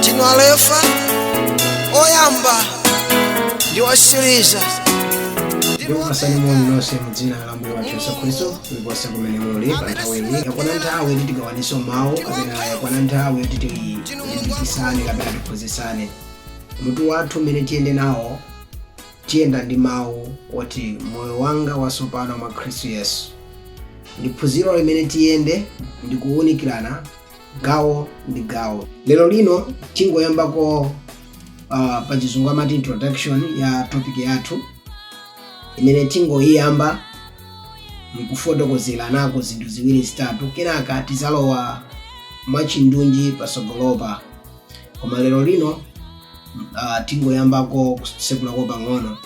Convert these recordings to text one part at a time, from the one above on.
tinu Alefa oyamba ndi wosiriza ndikupasani moni nonse mu dzina la mbuye wathu yesu khristu kulikonse kumene muli pa nthawi iyi yakwana nthawi yoti tigawanenso mawu kapena yakwana nthawi yoti tilimbikisane kapena tiphunzitsane mutu wathu umene tiyende nawo tiyenda ndi mawu oti moyo wanga watsopano mwa khristu yesu ndi phunziro limene tiyende ndi kuwunikirana gawo ndi gawo. Lero lino tingoyambako uh, pa chizungu amati introduction ya topic yathu imene tingoyiyamba mkufotokozeranako zinthu ziwiri zitatu kenaka tizalowa mwachindunji pasogolopa koma lero lino uh, tingoyambako kusekulako pang'ono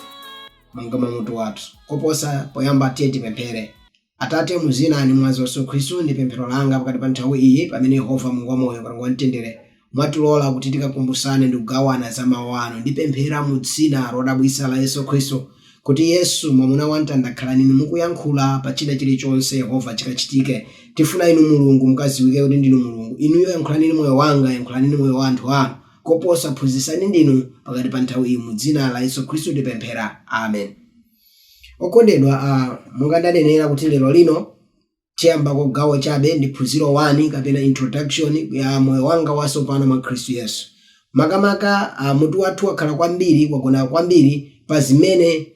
monga mwa mutu wathu koposa poyamba tiye tipemphere Atate, mu Dzina ndi Mwazi wa Yesu Khristu, ndi pemphero langa pakati pa nthawi iyi pamene Yehova Mulungu wamoyo, Kalonga wa Mtendere, mwatilola kuti tikakumbusane ndi kugawana za Mawu Anu. Ndipemphera mu Dzina lodabwitsa la Yesu Khristu, kuti Yesu, Mwamuna wa Pamtanda, khalani Inu mukuyankhula pa china chirichonse, Yehova, chikachitike. Tifuna Inu, Mulungu, mukadziwike kuti Ndinu Mulungu. Inuyo yankhulani ndi moyo wanga, yankhulani ndi moyo wa anthu Anu. Koposa, Mphunzitsi Ndinu pakati pa nthawi iyi. Mu Dzina la Yesu Khristu tipemphera. Amen. Okondedwa a, monga ndanenera kuti lero lino tiyambako gawo chabe la phunziro 1 kapena introduction ya Moyo Wanga Watsopano mwa Khristu Yesu. Makamaka a, mutu wathu wakhala kwambiri, wagona kwambiri pa zimene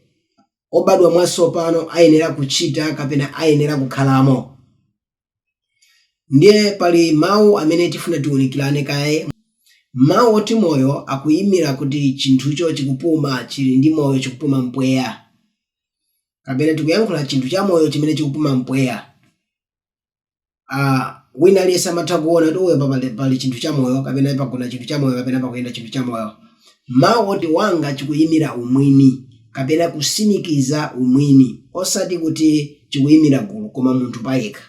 obadwa mwatsopano ayenera kuchita kapena ayenera kukhalamo. Ndiye pali mawu amene tifuna tiunikilane kaye. Mawu oti moyo akuimila kuti cinthuco cikupuma, cili ndi moyo, cikupuma mpweya. Kapena tikuyankhula cinthu camoyo cimene cikupuma mpweya. a Wina aliyense amatha kuona kuti eya apa pali cinthu camoyo kapena pagona cinthu camoyo kapena pakuyenda cinthu camoyo. Mawu oti wanga chikuyimira umwini kapena kusimikiza umwini osati kuti chikuyimira gulu koma munthu payekha.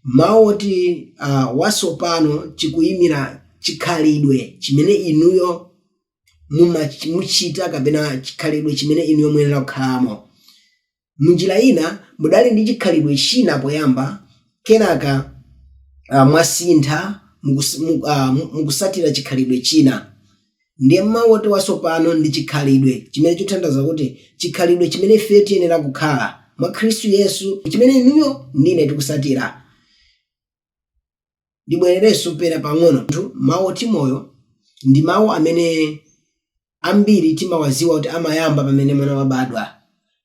Mawu oti wasopano chikuyimira chikhalidwe chimene inuyo mumach muchita kapena chikhalidwe chimene inuyo muyenera kukhalamo. M'njira ina, mudali ndi chikhalidwe china poyamba, kenaka mwasintha mukusatira chikhalidwe china. Ndiye mau oti watsopano ndi chikhalidwe chimene chikuthandauza kuti chikhalidwe chimene ifeyo tiyenera kukhala mwa Khristu Yesu ndi chimene inuyo ndi ine tikusatira. ndibwererenso pena pang'ono pa mawu oti moyo ndi mawu amene ambiri timawaziwa kuti amayamba pamene mwana wabadwa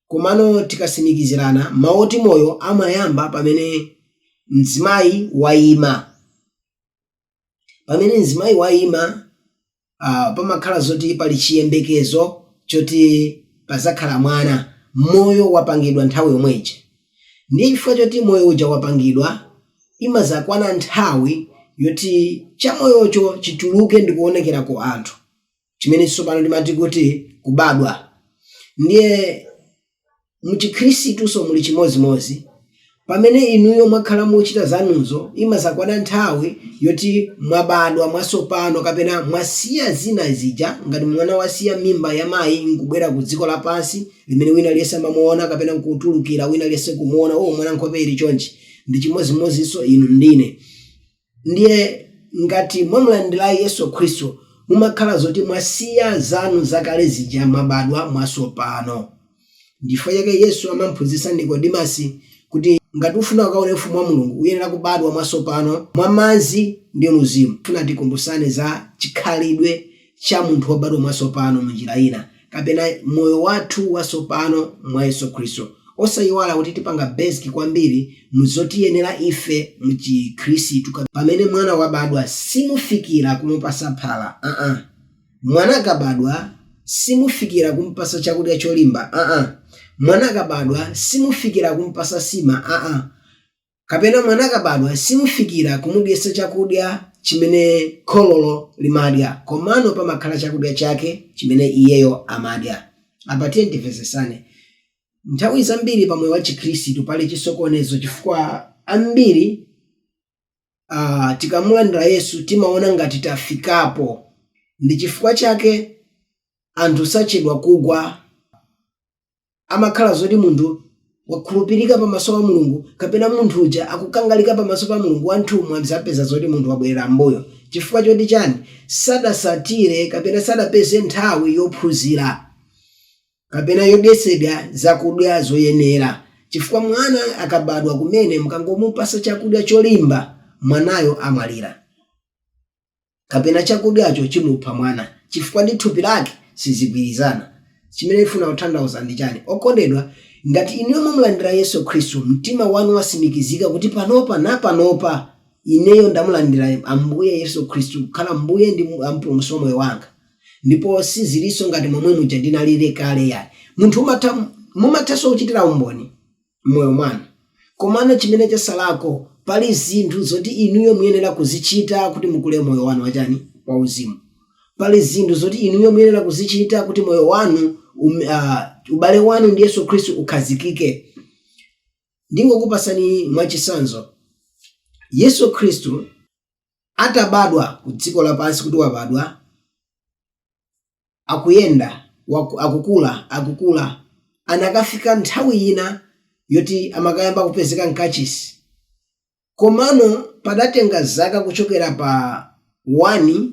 komano tikatsimikizirana mawu oti moyo amayamba pamene mzimayi wayima pamene mzimayi wayima pamakhala zoti pali chiyembekezo choti padzakhala mwana, moyo wapangidwa nthawi yomwe ija. Ndiye chifukwa choti moyo uja wapangidwa, imadzakwana nthawi yoti chamoyocho chituluke ndikuonekera ku anthu, chimene tsopano timati kuti kubadwa. Ndiye. Mu Chikhristunso muli chimodzimodzi. Pamene inuyo mwakhala mukuchita zanuzo, imadzakwana nthawi yoti mwabadwa mwatsopano kapena mwasiya zina zija ngati mwana wasiya mimba ya mayi nkubwera ku dziko lapansi limene wina aliyense amamuona kapena nkutulukira wina aliyense kumuona, oh, mwana nkhope ili chonchi. Ndi chimodzimodzinso inu ndine. ndiye ngati mwamulandira Yesu Khristu mumakhala zoti mwasiya zanu zakale zija mwabadwa mwatsopano. Ndichifukwa chake Yesu amamphunzitsa Nikodimasi kuti ngati ufuna ukaone ufumu wa Mulungu uyenera kubadwa mwatsopano mwa madzi ndi Mzimu. Ndifuna tikumbutsane za chikhalidwe cha munthu wobadwa mwatsopano mu njira ina, kapena moyo wathu watsopano mwa Yesu Khristu. Osayiwala kuti tipanga basic kwambiri mu zotiyenera ife mu chi Khristu ka pamene mwana wabadwa simufikira kumupatsa phala aa. Mwana akabadwa simufikira kumupatsa chakudya cholimba aa. Mwana akabadwa simufikira kumupatsa nsima aa. kapena mwana akabadwa simufikira kumudyetsa chakudya chimene khololo limadya komano pamakhala chakudya chake chimene iyeyo amadya apa tiye timvetsetsane nthawi zambiri pa moyo wa chikhristu pali chisokonezo chifukwa ambiri uh, tikamulandira yesu timaona ngati tafikapo ndi chifukwa chake anthu sachedwa kugwa amakhala zoti munthu wakhulupirika pamaso pa mulungu kapena munthu uja akukangalika pamaso pa mulungu anthu mudzapeza zoti munthu wabwerera m'mbuyo chifukwa choti chani sadatsatire kapena sadapeze nthawi yophunzira kapena yodyetsedwa zakudya zoyenera chifukwa mwana akabadwa kumene mukangomupatsa chakudya cholimba mwanayo amwalira kapena chakudyacho chimupha mwana chifukwa ndi thupi lake sizigwirizana. Chimene ndifuna kutanthauza ndi chani okondedwa ngati inuyo mwamulandira Yesu Khristu mtima wanu watsimikizika kuti panopa napanopa ineyo ndamulandira Ambuye Yesu Khristu kukhala Mbuye ndi mpulumutsi wa moyo wanga ndipo sizilinso ngati momwe muja ndinalili kale yayi munthu mumathanso kuchitira umboni m'moyo mwanu. Komano chimene chasalako, pali zinthu zoti inuyo muyenera kuzichita kuti mukule moyo wanu wachani? wauzimu. Pali zinthu zoti inuyo muyenera kuzichita kuti moyo wanu um, uh, ubale wanu ndi Yesu Khristu ukhazikike. Ndingokupasani mwachitsanzo. Yesu Khristu atabadwa ku dziko lapansi kuti wabadwa, akuyenda, akukula, akukula, anakafika nthawi yina yoti amakayamba kupezeka mkachisi. Komano padatenga zaka kuchokera pa 1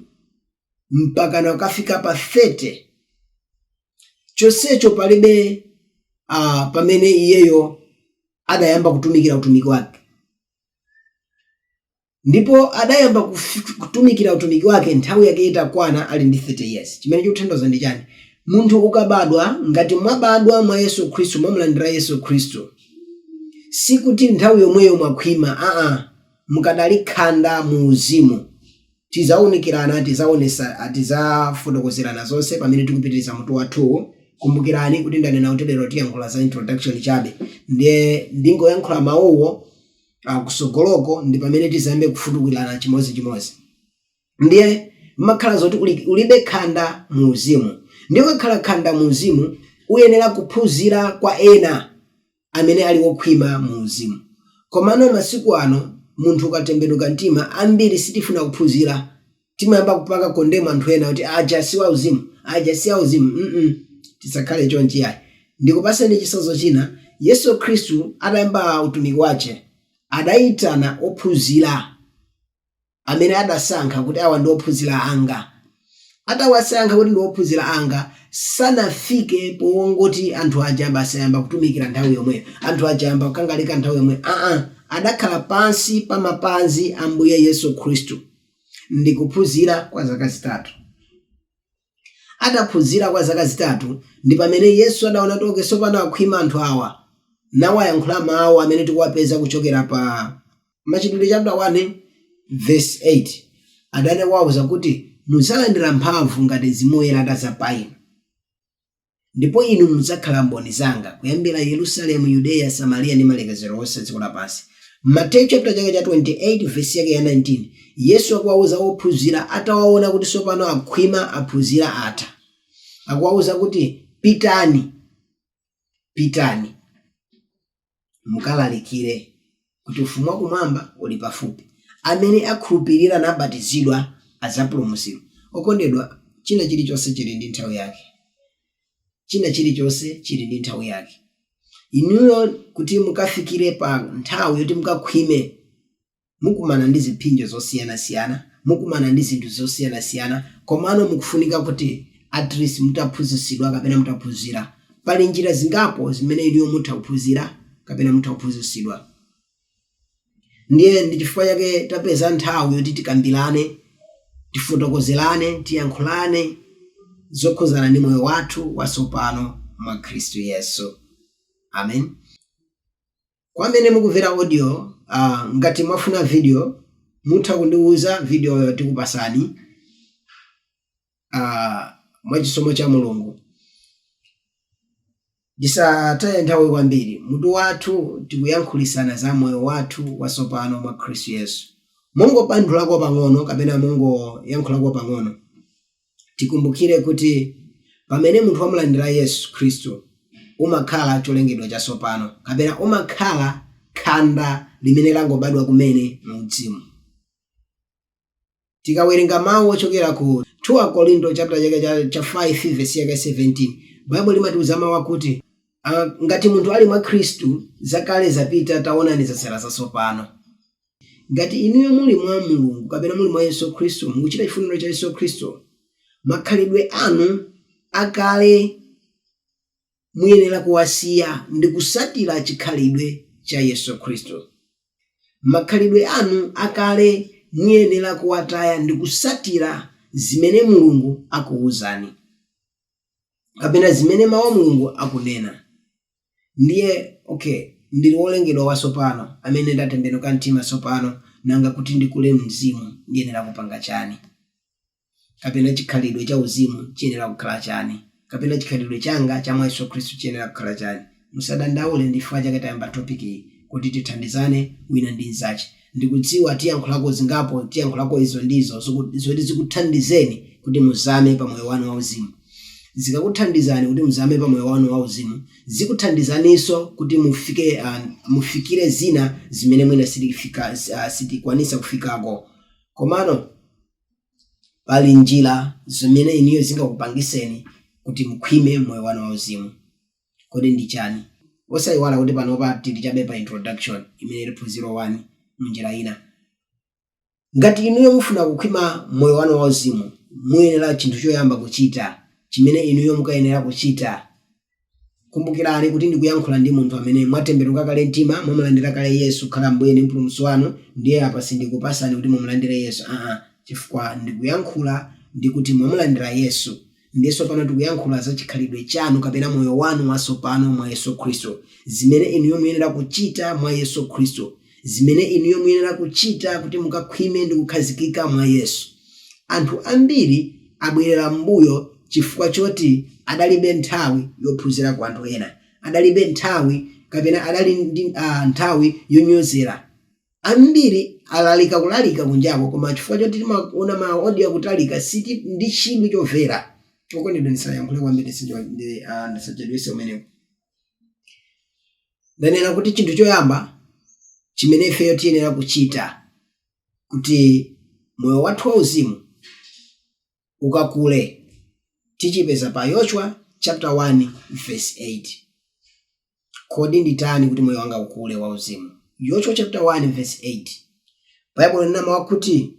mpakana kukafika pa 30, chonsecho palibe a, pamene iyeyo adayamba kutumikira utumiki wake. ndipo adayamba kutumikira utumiki wake nthawi yake itakwana ali ndi 30 years chimene chikutanthauza ndi chani munthu ukabadwa ngati mwabadwa mwa Yesu khristu mwamulandira Yesu khristu sikuti nthawi yomweyo mwakhwima aa mukadali khanda mu uzimu tizaunikirana tizaonesa tizafotokozerana zonse pamene tikupitiriza mutu wathuwu kumbukirani kuti ndanena kuti lero tiyankhula za introduction chabe ndiye ndingoyankhula mawuwo a kutsogoloko ndi pamene tizayambe kufutukulirana chimodzichimodzi ndiye umakhala zoti uli, udakali khanda mu uzimu ndiye ukakhala khanda mu uzimu uyenera kuphunzira kwa ena amene ali okhwima mu uzimu komano masiku ano munthu ukatembenuka mtima ambiri sitifuna kuphunzira timayamba kupanga condemn anthu ena kuti aja siwauzimu aja siauzimu mm tisakhale chonchi yayi ndikupaseni chitsanzo china yesu khristu atayamba utumiki wache adayitana ophunzira amene adasankha kuti awa ndi ophunzira anga atawasankha kuti ndi ophunzira anga sanafike powongoti anthu aja basi ayamba kutumikira nthawi yomweyo anthu aja ayamba kukangalika nthawi yomweyo aa adakhala pansi pa mapazi a mbuye yesu khristu Ndi kuphunzira kwa zaka zitatu. Ataphunzira kwa zaka zitatu, ndi pamene Yesu adaona kuti okay tsopano akhwima anthu awa, nawayankhula mawu amene tikuwapeza kuchokera pa Machitidwe chapter 1 verse 8. Adawauza kuti mudzalandira mphamvu ngati Mzimu Woyera atadza pa inu. Ndipo inu mudzakhala mboni zanga kuyambira Yerusalemu, Yudeya, Samariya ndi malekezero onse a dziko lapansi. Mateyu chapter chake cha 28 vesi yake ya 19 Yesu akuwauza ophunzira atawaona kuti tsopano akhwima aphunzira atha. Akuwauza kuti pitani. Pitani. mukalalikire kuti ufumu wakumwamba uli pafupi amene akhulupirira nabatizidwa adzapulumutsidwa okondedwa china chilichonse chili ndi nthawi yake china chilichonse chili ndi nthawi yake inuyo kuti mukafikire pa nthawi yoti mukakhwime mukumana ndi ziphinjo zosiyanasiyana, mukumana ndi zinthu zosiyanasiyana komano mukufunika kuti atleast mutaphunzitsidwa kapena mutaphunzira. Pali njira zingapo zimene inuyo mutha kuphunzira kapena mutha kuphunzitsidwa. Ndiye ndi chifukwa chake tapeza nthawi yoti tikambirane, tifotokozerane, tiyankhulane zokhudzana ndi moyo wathu watsopano mwa Khristu Yesu. Amen. Kwa amene mukuvera audio ngati mwafuna video mutha kundiuza video yo tikupasani mwachisomo cha Mulungu. Ndisataye nthawi kwambiri mutu wathu tikuyankhulisana za moyo wathu wasopano mwa Khristu Yesu. Ndingobandulako pang'ono kapena ndingoyankhulako pang'ono. Tikumbukire kuti pamene munthu wamulandira Yesu Khristu, umakhala cholengedwa chatsopano kapena umakhala khanda limene langobadwa kumene mu udzimu. Tikawerenga mau ochokera ku 2 Akorinto chaputala chake cha cha 5 vesi yake ya 17, Baibulo limatiuza mau akuti, a, ngati munthu ali mwa Khristu, zakale zapita, taonani zatsala zatsopano. Ngati inuyo muli mwa Mulungu kapena muli mwa Yesu Khristu, mukuchita chifuniro cha Yesu Khristu, makhalidwe anu akale muyenera kuwasiya ndi kusatira chikhalidwe cha Yesu Khristu. Makhalidwe anu akale muyenera kuwataya ndi kusatira zimene Mulungu akuuzani kapena zimene Mau a Mulungu akunena. Ndiye, okay, ndiri wolengedwa watsopano, amene ndatembenuka mtima tsopano, nanga kuti ndikule muuzimu ndiyenera kupanga chani? Kapena chikhalidwe cha uzimu chiyenera kukhala chani? Kapena chikhalidwe changa cha mwa Yesu Khristu chiyenera kukhala chani? Musadandaule, ndi chifukwa chake tayamba topic iyi, kuti tithandizane wina ndi mzache. Ndikudziwa tiyankhulako zingapo, tiyankhulako izo ndi izo, zoku, zoti zikuthandizeni kuti muzame pa moyo wanu wauzimu. Zikakuthandizani kuti muzame pa moyo wanu wauzimu, zikuthandizaninso kuti mufike, ah, mufikire zina zimene mwina sitifika, ah, sitikwanisa kufikako. Komano, pali njira zimene inuyo zingakupangiseni kuti mukhwime m'moyo wanu wauzimu. Kodi ndi chani? Osaiwala kuti panopa tili chabe pa introduction imene ili phunziro 1 munjira ina. Ngati inuyo mufuna kukhwima moyo wanu wauzimu, muyenera chinthu choyamba kuchita chimene inuyo mukayenera kuchita kumbukirani kuti ndikuyankhula ndi munthu amene mwatembenuka kale mtima, mwamulandira kale Yesu kukhala Ambuye ndi Mpulumutsi wanu, ndiye apa sindikupasani kuti mumulandire Yesu aa chifukwa ndikuyankhula ndikuti mwamulandira Yesu. Ndiye tsopano tikuyankhula za chikhalidwe chanu kapena moyo wanu watsopano mwa Yesu Khristu, zimene inuyo muyenera kuchita mwa Yesu Khristu, zimene inuyo muyenera kuchita kuti mukakhwime ndi kukhazikika mwa Yesu. Anthu ambiri abwerera m'mbuyo chifukwa choti adalibe nthawi yophunzira kwa anthu ena, adalibe nthawi kapena adali ndi nthawi yonyozera. Ambiri alalika kulalika kunjako koma chifukwa choti timaona ma audio akutalika sitili ndi chidwi chomvera. Okondedwa ndisayankhule kwambiri ndisacho- ndi- ah, ndisachedwese umenewu. Ndanena kuti chinthu choyamba chimene ifeyo tiyenera kuchita kuti moyo wathu wauzimu ukakule tichipeza pa yoshua chapter 1 verse 8 kodi nditani kuti moyo wanga ukule wauzimu yoshua chapter 1 verse 8 baibulo linena mawu akuti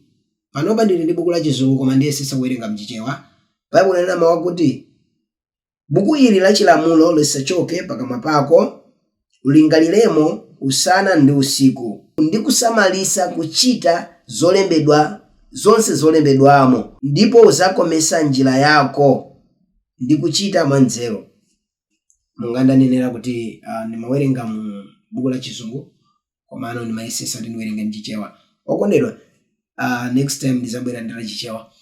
panopa ndili ndi buku la chizungu koma ndiyesetsa kuwerenga mchichewa baibulo linena mawu akuti Buku ili la chilamulo lisachoke pakamwa pako, ulingaliremo usana ndi usiku, ndi kusamalitsa kuchita zolembedwa zonse zolembedwamo, ndipo udzakometsa njira yako, ndi kuchita mwanzeru. Monga ndanenera kuti ah, ndimawerenga mu buku la chizungu komano ndimayesetsa kuti ndiwerenge ndi chichewa okondedwa ah, next time ndidzabwera ndi la chichewa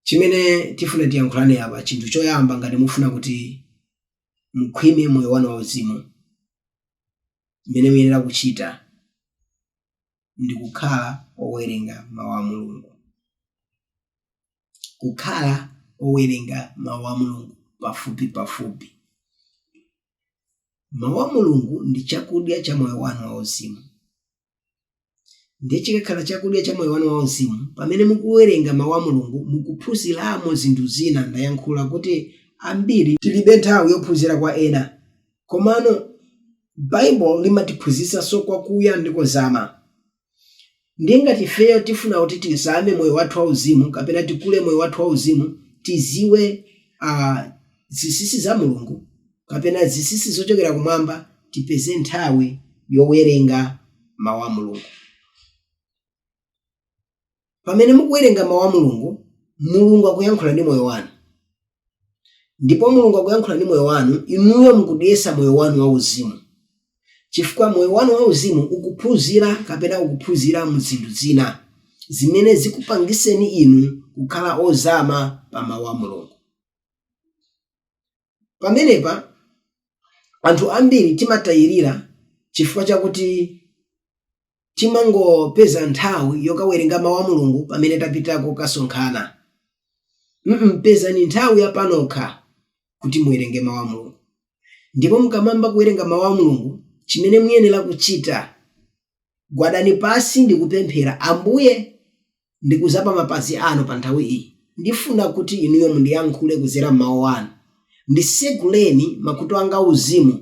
Chimene tifuna tiyankhulane apa, chinthu choyamba ngati mufuna kuti mukhwime moyo wanu wauzimu, chimene muyenera kuchita ndi kukhala owerenga mawu a Mulungu. Kukhala owerenga mawu a Mulungu pafupi pafupi. Mawu a Mulungu ndi chakudya cha moyo wanu wauzimu. ndiye chikakhala chakudya cha moyo wanu wauzimu pamene mukuwerenga mawu a mulungu mukuphunziramo zinthu zina ndayankhula kuti ambiri tilibe nthawi yophunzira kwa ena komano baibulo limatiphunzitsanso kwakuya ndi kozama ndiye ngati ifeyo tifuna kuti tizame moyo wathu wauzimu kapena tikule moyo wathu wauzimu tidziwe uh, zinsinsi za mulungu kapena zinsinsi zochokera kumwamba, tipeze nthawi yowerenga Mawu a Mulungu. Pamene mukuwerenga Mawu a Mulungu, Mulungu akuyankhula ndi moyo wanu. Ndipo Mulungu akuyankhula ndi moyo wanu, inuyo mukudyetsa moyo wanu wauzimu. Chifukwa moyo wanu wauzimu ukuphunzira kapena ukuphunzira mu zinthu zina zimene zikupangiseni inu kukhala ozama pa Mawu a Mulungu. Pamenepa anthu ambiri timatayirira chifukwa chakuti timangopeza nthawi yokawerenga Mawu a Mulungu pamene tapita kokasonkhana. mm Pezani nthawi ya panokha kuti muwerenge Mawu a Mulungu. Ndipo mukamayamba kuwerenga Mawu a Mulungu, chimene muyenera kuchita Gwadani pansi ndi kupemphera, Ambuye, ndikudza pa mapazi Anu pa nthawi iyi. Ndifuna kuti Inuyo mundiyankhule kudzera m'Mawu Anu. Nditseguleni makutu anga auzimu,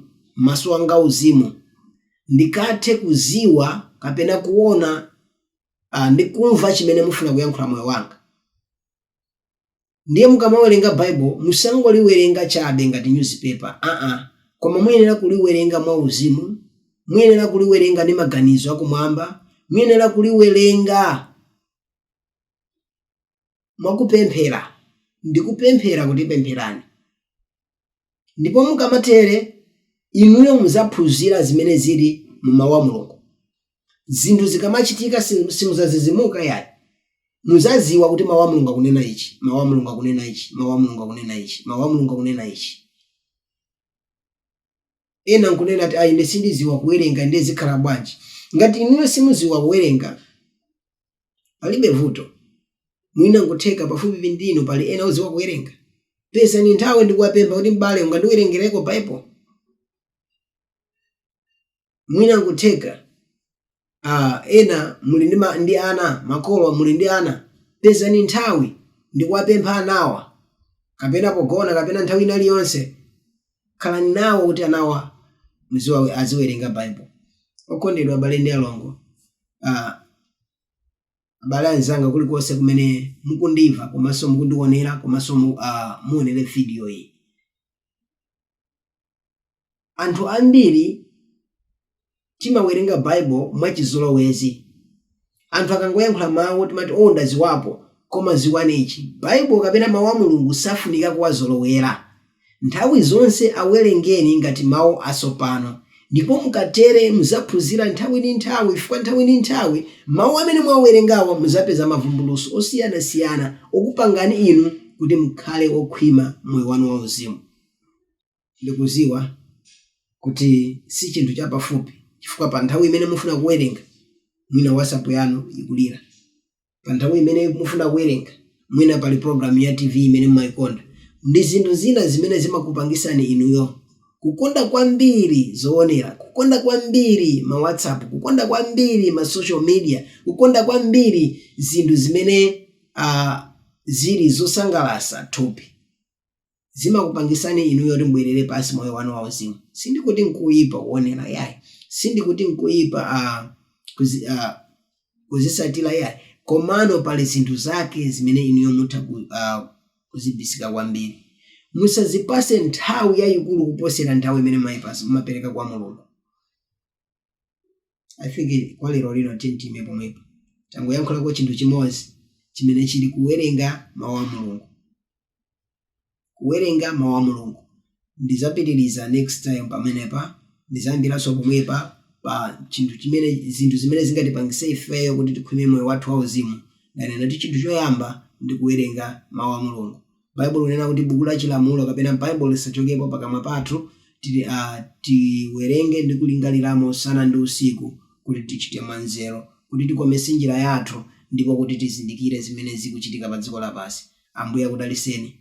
maso anga auzimu, ndikathe kudziwa kapena kuona, a, ndi kumva chimene mufuna kuyankhula moyo wanga. Ndiye mukamawerenga Baibo, musangoliwerenga chabe ngati nyuzipepa aa, koma muyenera kuliwerenga mwauzimu, muyenera kuliwerenga ndi maganizo akumwamba, muyenera kuliwerenga mwa kupemphera ndi kupemphera kuti pempherani. Ndipo mukamatere, inuyo muzaphunzira zimene zili mu Mau a Mulungu. Zinthu zikamachitika simuzazizimuka yayi. Muzaziwa kuti Mau a Mulungu akunena ichi, Mau a Mulungu akunena ichi, Mau a Mulungu akunena ichi, Mau a Mulungu akunena ichi. Ena nkunena kuti, ah ine sindiziwa kuwerenga ndiye zikhala bwanji. Ngati inuyo simuziwa kuwerenga palibe vuto. Mwina nkutheka pafupipo ndi inu pali ena oziwa kuwerenga. Pezani nthawi ndikuwapempha kuti m'bale ungandiwerengereko Bible? Mwina nkutheka Ah, ena muli ndi, ma, ndi ana makolo muli ndi ana pezani nthawi ndikuwapempha anawa kapena pogona kapena nthawi ina iliyonse khalani nawo kuti anawa muziwa- aziwerenga bible okondedwa abale ndi alongo ah, abale anzanga kulikonse kumene mukundimva komanso mukundionera komanso mu, ah, muonere video iyi Anthu ambiri timawerenga Bible mwachizolowezi. Anthu akangoyankhula mawu timati oh ndaziwapo koma ziwani ichi Bible kapena mawu a Mulungu safunika kuwazolowera. Nthawi zonse awelengeni ngati mawu asopano ndipo mukatere muzaphunzira nthawi ndi nthawi chifukwa nthawi ndi nthawi mawu amene mwawerengawa muzapeza mavumbulutso osiyana siyana okupangani inu kuti mukhale okhwima mu moyo wanu wauzimu. Ndikudziwa kuti si chinthu chapafupi chifukwa pa nthawi imene mufuna kuwerenga, mwina WhatsApp yanu ikulira. Pa nthawi imene mufuna kuwerenga, mwina pali pulogalamu ya TV imene mumaikonda. Ndi zinthu zina zimene zimakupangitsani inuyo kukonda kwambiri zoonera, kukonda kwambiri ma WhatsApp, kukonda kwambiri ma social media, kukonda kwambiri zinthu zimene ah zili zosangalatsa thupi. zimakupangisani inuyo kuti mubwerere pansi moyo wanu wauzimu sindikuti nkuyipa kuonera yayi sindikuti nkuyipa ah, kuzi, ah, kuzisatira yayi komano pali zinthu zake zimene inuyo mutha ku, ah, kuzibisika kwambiri musazipase nthawi yayikulu kuposera nthawi imene mwayipas- mumapereka kwa mulungu i think kwa lero lino tiime pomwepa tangoyankhulako chinthu chimodzi chimene chili kuwerenga mawu a mulungu kuwerenga mawu a mulungu ndizapitiriza next time pamenepa ndizayambiranso pomwepa pa chinthu chimene zinthu zimene zingatipangise ifeyo kuti tikhwime moyo wathu wauzimu ndanena kuti chinthu choyamba ndi kuwerenga mawu a mulungu Baibulo likunena kuti buku la chilamulo kapena Baibulo lisachoke pakamwa pathu, tiri, a, tiwerenge ndi kulingaliramo usana ndi usiku, kuti tichite mwanzeru, kuti tikometse njira yathu, ndipo kuti tizindikire zimene zikuchitika pa dziko lapansi. Ambuye akudalitseni.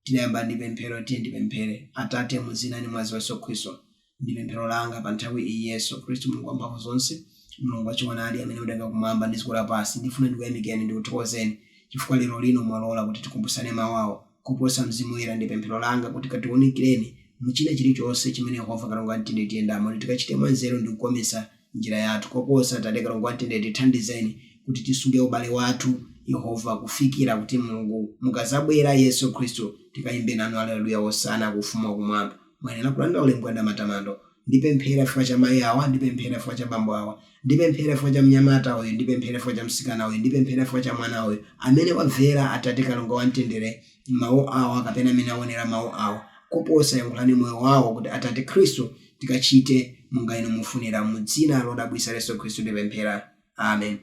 Tidayamba ndi pemphero. Tiyeni tipemphere. Atate, mu Dzina ndi Mwazi wa Yesu Khristu. Ndi pemphero langa pa nthawi iyi, Yesu Khristu, Mulungu Wamphamvu zonse, Mulungu wa choonadi amene mudalenga kumwamba ndi dziko lapansi, ndifuna ndikuyamikeni ndikuthokozeni chifukwa lero lino mwalola kuti tikumbusane mawu awa. Koposa Mzimu Woyera, ndi pemphero langa kuti katiunikireni mu china chiri chonse chimene Yehova Kalonga wa Mtendere tiyendamo, kuti tikachite mwa nzeru ndi kukometsa njira yathu. Koposa, Atate Kalonga wa Mtendere, tithandizeni kuti tisunge ubale wathu, Yehova, kufikira kuti Mulungu mukadzabwera, Yesu Khristu, tikayimbe nanu Aleluya, Wosana ku ufumu wa kumwamba. Muyenera kulandira ulemu ndi matamando. Ndipemphera chifukwa cha mayi awa, ndipemphera chifukwa cha bambo awa. Ndipemphera chifukwa cha mnyamata uyu, ndipemphera chifukwa cha mtsikana uyu, ndipemphera chifukwa cha mwana uyu, amene wamvera Atate Kalonga wa Mtendere mawu awa kapena amene awonera mawu awa. Koposa yankhulani moyo wawo kuti Atate Khristu tikachite monga inu mufunira. Mu dzina lodabwitsa la Yesu Khristu tipemphera. Amen.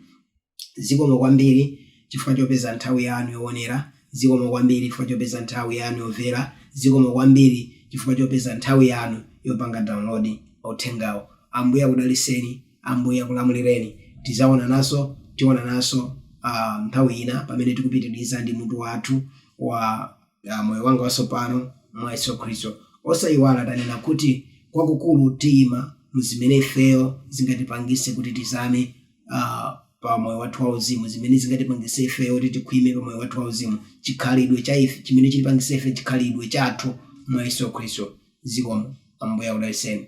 Zikomo kwambiri chifukwa chopeza nthawi yanu yowonera. Zikomo kwambiri chifukwa chopeza nthawi yanu yomvera. Zikomo kwambiri chifukwa chopeza nthawi yanu yopanga download mauthengawo. Ambuye akudaliseni. Ambuye akulamulireni. Tizawonananso, tiwonananso uh, nthawi ina pamene tikupitiriza ndi mutu wathu wa uh, moyo wanga watsopano mwa Yesu Khristu. Osayiwala tanena kuti kwakukulu tiyima mu zimene ifeyo zingatipangise kuti tizame ah, pa moyo wathu wauzimu zimene zingatipangise ifeyo kuti tikhwime pa moyo wathu wauzimu chikhalidwe cha ife chimene chitipangise ife chikhalidwe chathu mwa yesu khristu zikomo ambuye akudaliseni